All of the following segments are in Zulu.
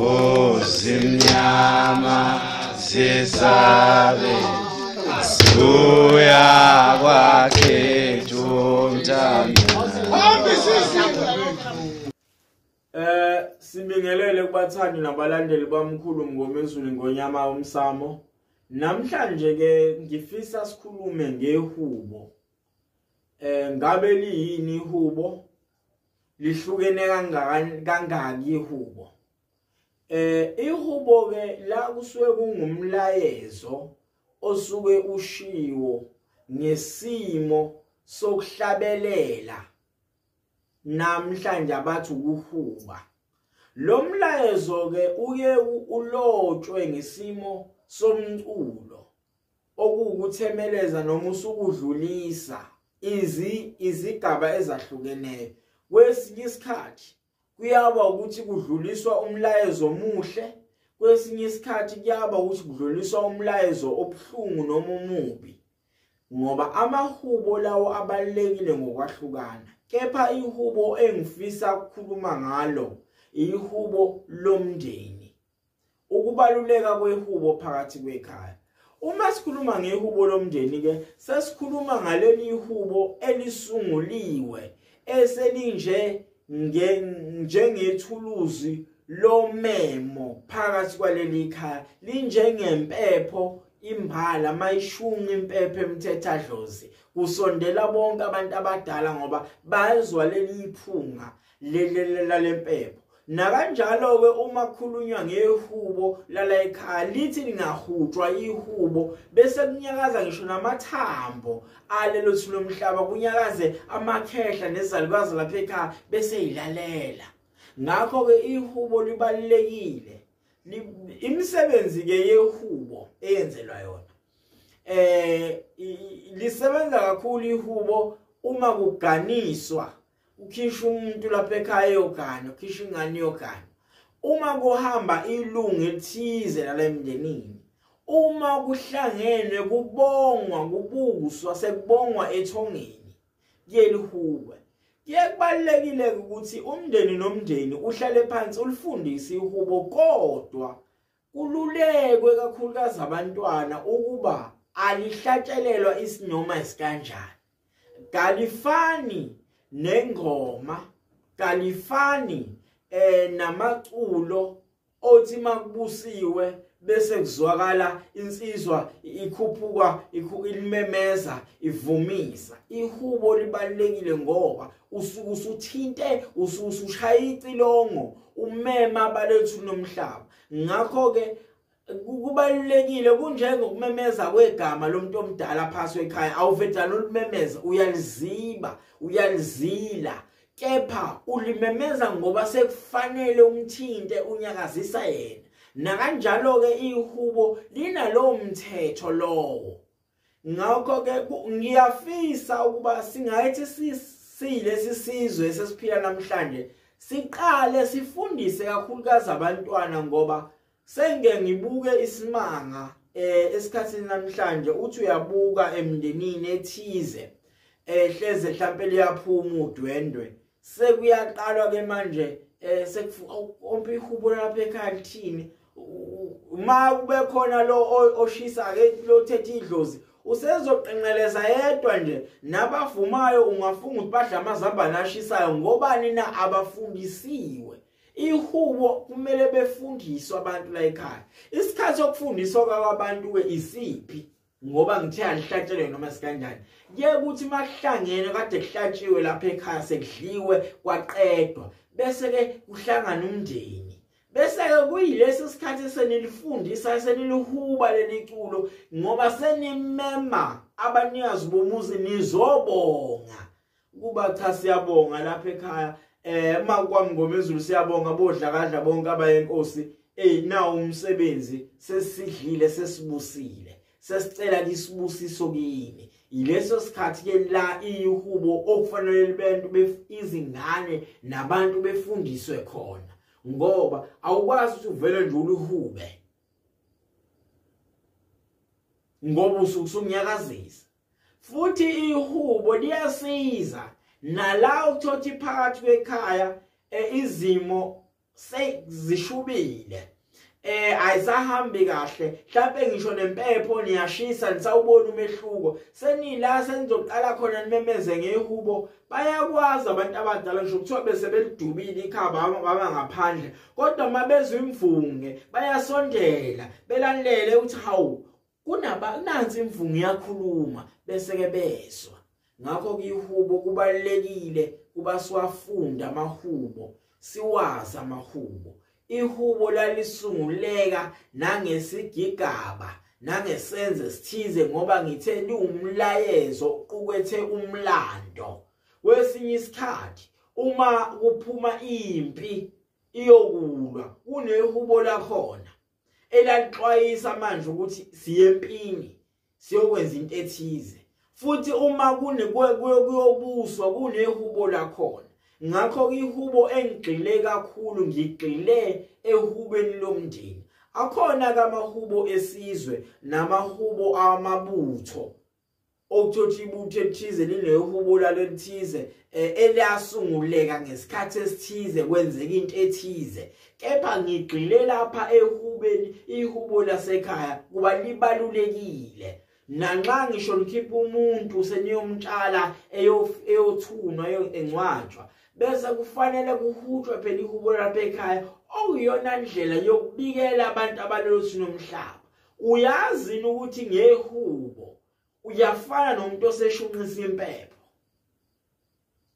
Oh zimnyama zisabe Suya kwakhe jomtanda Eh sibingelele kubathandi nabalandeli bamkhulu Mngomezulu ngonyama umsamo Namhlanje ke ngifisa sikhulume ngehubo eh ngabe liyini ihubo lihlukene kangakani kangaki ihubo eh ihubo ke la kusuke kungumlayezo osuke ushiwo ngesimo sokuhlabelela namhlanje abathi ukuhuba lo mlayezo ke uye ulotshwe ngesimo somculo okuwukuthemeleza noma usukudlulisa izi izigaba ezahlukeneyo kwesinye isikhathi kuyaba ukuthi kudluliswa umlayezo omuhle kwesinye isikhathi kuyaba ukuthi kudluliswa umlayezo obuhlungu noma omubi ngoba amahubo lawo abalekile ngokwahlukana kepha ihubo engifisa ukukhuluma ngalo ihubo lomndeni ukubaluleka kwehubo phakathi kwekhaya uma sikhuluma ngehubo lomndeni ke sesikhuluma ngaleli ihubo elisunguliwe eselinje njengethuluzi lomemo phakathi kwaleli khaya linjengempepho imbala mayishunqa impepho emthethadlozi kusondela bonke abantu abadala ngoba bazwa leli iphunga lelelela lempepho nakanjalo ke uma khulunywa ngehubo lala ekhaya lithi lingahutshwa ihubo bese kunyakaza ngisho namathambo alelo thilo mhlaba kunyakaze amakhehla nezalukazi lapha ekhaya bese yilalela ngakho ke ihubo libalekile imisebenzi ke yehubo eyenzelwa yona eh lisebenza kakhulu ihubo uma kuganiswa ukhisha umuntu lapha ekhaya yogana ukhisha ingane yogana uma kuhamba ilungu ethize lalemndenini uma kuhlangenwe kubongwa kubuswa sekubongwa ethongeni kuyelihuba kuyekubalekile ukuthi umndeni nomndeni uhlale phansi ulifundise ihubo kodwa Kululekwe kakhulukazi abantwana ukuba alihlatshelelwa isinoma isikanjani. Kalifani nengoma, kalifani eh namaculo othi makubusiwe bese kuzwakala insizwa ikhuphuka ilimemeza ivumisa ihubo libalekile ngoba usuthinte usushaya icilongo umema abalethu nomhlaba ngakho ke kubalulekile kunjengokumemeza kwegama lomuntu omdala phasi ekhaya awuvedana ulimemeza uyaliziba uyalizila kepha ulimemeza ngoba sekufanele umthinte unyakazisa yena nakanjalo ke ihubo linalowo mthetho lowo ngakho ke ngiyafisa ukuba singayithi siyilesi sizwe sesiphila namhlanje siqale sifundise kakhulukazi abantwana ngoba senge ngibuke isimanga eh esikhathini namhlanje uthi uyabuka emndenini ethize ehleze eh, mhlambe liyaphuma udwendwe sekuyaqalwa ke manje eh sekuompa ihubo lapha ekhaya lithini uma kube khona lo oshisa ke lo thethe idlozi usezoqenqeleza yedwa nje nabavumayo ungafunga ukuthi badla amazambane ashisayo ngobani na abafundisiwe ihubo kumele befundiswe abantu la ekhaya isikhathi sokufundiswa kwabantu-ke isiphi ngoba ngithe alihlatshelwe noma sikanjani ke ukuthi mahlangene kade kuhlatshiwe lapha ekhaya sekudliwe kwaqedwa bese ke kuhlangana umndeni bese ke kuyilesi sikhathi senilifundisa senilihuba leliculo ngoba senimema abanikazi bomuzi nizobonga kuba cha siyabonga lapha ekhaya eh uma kwamngomezulu siyabonga bodlakadla bonke abayenkosi ey nawo umsebenzi sesidlile sesibusile sesicela kisibusiso kini yileso sikhathi ke la iyihubo okufanele libantu izingane nabantu befundiswe khona ngoba awukwazi ukuthi uvele nje uluhube ngoba usukusunyakazisa futhi ihubo liyasiza nala ukuthothi phakathi kwekhaya eh, izimo sezishubile eh ayisahambi kahle mhlawumbe ngisho nempepho niyashisa nisawubona umehluko senila senizoqala khona nimemeze ngehubo bayakwazi abantu abadala ngisho kuthiwa bese belidubile ikhaba baba ngaphandle kodwa uma bezwa imvunge bayasondela belalele ukuthi hawu kunaba nansi imvungu yakhuluma bese ke bezwa ngakho kuyihubo kubalekile kuba siwafunda amahubo siwazi amahubo ihubo lalisunguleka nangesigigaba nangesenze sithize ngoba ngithe liwumlayezo uqukethe umlando kwesinye isikhathi uma kuphuma impi iyokulwa kunehubo lakhona elalixwayisa manje ukuthi siyempini siyokwenza into ethize futhi uma kune kuyobuswa kunehubo lakhona ngakho ihubo engigxile kakhulu ngigxile ehubeni lomndeni akhona kamahubo esizwe namahubo amabutho okuthothi ibutho elithize lineyohubula lelithize eh, eliyasunguleka ngesikhathi esithize kwenzeka into ethize kepha ngigxile lapha ehubeni ihubo lasekhaya kuba libalulekile nanxa ngisho likhipha umuntu seniyomtshala eyothunwa encwatshwa bese kufanele kuhutshwe phela ihubo lapha ekhaya okuyona ndlela yokubikela abantu abalelo sinomhlaba uyazi ukuthi ngehubo uyafana nomuntu oseshunqisa impepho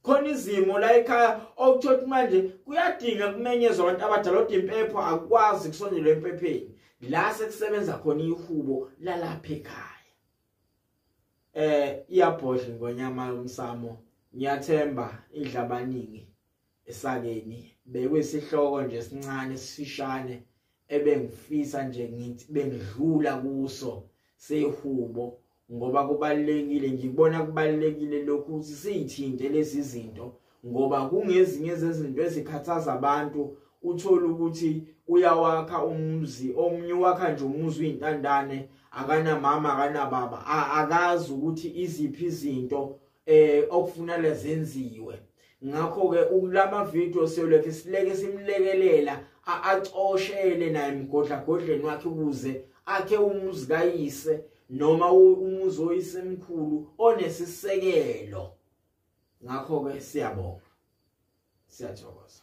khona izimo la ekhaya okuthothi manje kuyadinga kumenyezwa abantu abadala kodwa impepho akwazi kusondelwa empepheni la sekusebenza khona ihubo lalapha ekhaya eh iyabhodla ngonyama umsamo ngiyathemba idla abaningi esakeni bekwisihloko nje sincane sifishane ebengifisa nje ngithi bengidlula kuso sehubo ngoba kubalekile ngibona kubalekile lokhu ukuthi sithinte lezi zinto ngoba kungezinye zezinto ezikhathaza abantu uthola ukuthi uyawakha umuzi omunye wakha nje umuzi uyintandane akanamama akanababa akazi ukuthi iziphi izinto eh okufunana zenziwe ngakho ke ukulama video siyoleke sileke simlekelela acoshele naye mgodla godleni wakhe ukuze akhe umuzi kayise noma umuzi oyisemkhulu onesisekelo ngakho ke siyabonga siyathokoza